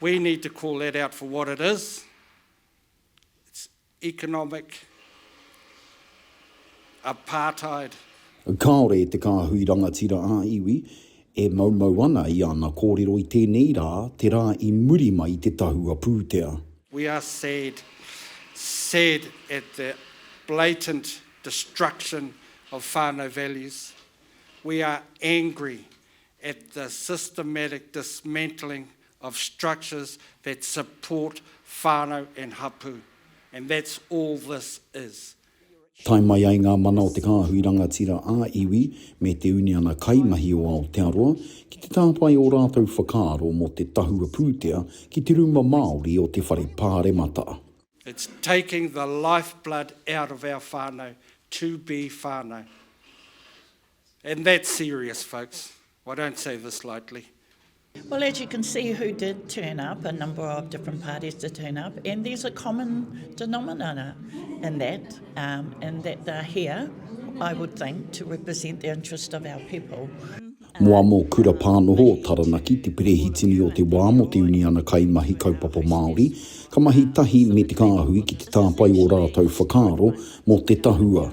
We need to call that out for what it is, it's economic apartheid. Kāore e te kāhui rangatira ā-iwi e moumou ana i ana kōrero i tēnei rā, te rā i muri mai i te tahua pūtea. We are sad, sad at the blatant destruction of whānau values. We are angry at the systematic dismantling of structures that support whānau and hapū, and that's all this is. Tae mai ai ngā mana o te kāhui rangatira ā-iwi me te uniana kaimahi o Aotearoa ki te tāpae ō rātou whakaaro mō te tahua pūtea ki te rūma Māori o te Whare Pāremata. It's taking the lifeblood out of our whānau to be whānau. And that's serious folks, I don't say this lightly. Well, as you can see who did turn up, a number of different parties did turn up, and there's a common denominator in that, um, in that they're here, I would think, to represent the interest of our people. Moa mō Kura Pānoho o Taranaki, te perehitini o te wā mō te uniana kaimahi kaupapa Māori, ka mahi tahi me te kāhui ki te tāpae o rātou whakaaro mō te tahua.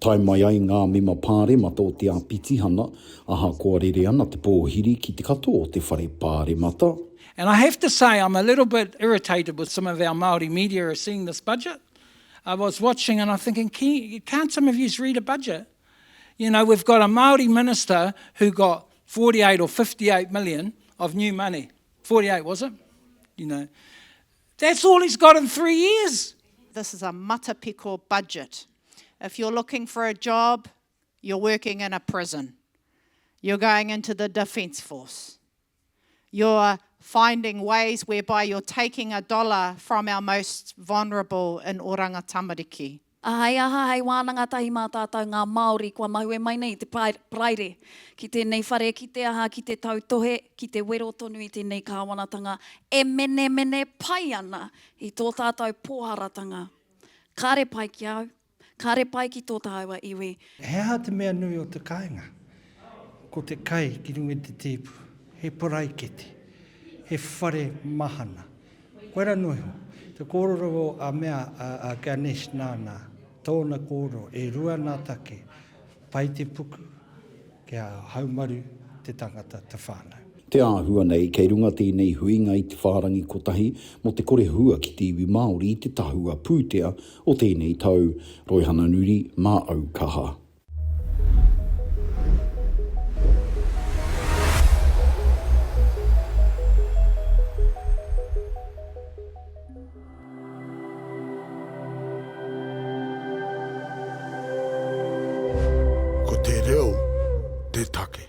Tae mai ai ngā mema pāremata o te āpitihana, ahakoa rere ana te pōhiri ki te katoa o te whare pāremata, And I have to say I'm a little bit irritated with some of our Māori media are seeing this budget. I was watching and I'm thinking, can't some of yous read a budget? You know, we've got a Māori minister who got 48 or 58 million of new money. 48, was it? You know, that's all he's got in three years. This is a matapiko budget. If you're looking for a job, you're working in a prison. You're going into the defence force. You're finding ways whereby you're taking a dollar from our most vulnerable in Oranga Tamariki. Ahei aha, hei wānanga tahi mā tātou ngā Māori kua mahue mai nei i te praire ki tēnei whare, ki te aha, ki te tautohe, ki te wero tonu i tēnei kāwanatanga e menemene pai ana i tō tātou pōharatanga. Kāre pai ki au, kāre pai ki tō tāua iwi. He aha te mea nui o te kāinga? Ko te kai ki runga i te tēpu, he paraikete, he whare mahana. Koia rā noa iho, te kōrero a mea a Ganesh nāna, tōna kōrero, e rua nā take, Pai te puku, kia haumaru te tangata, te whānau. Te āhua nei, kei runga tēnei huinga i te whārangi kotahi mō te kore hua ki te iwi Māori i te tahua pūtea o tēnei tau. Roihana Nuri, mā au kaha. Ko te reo te take.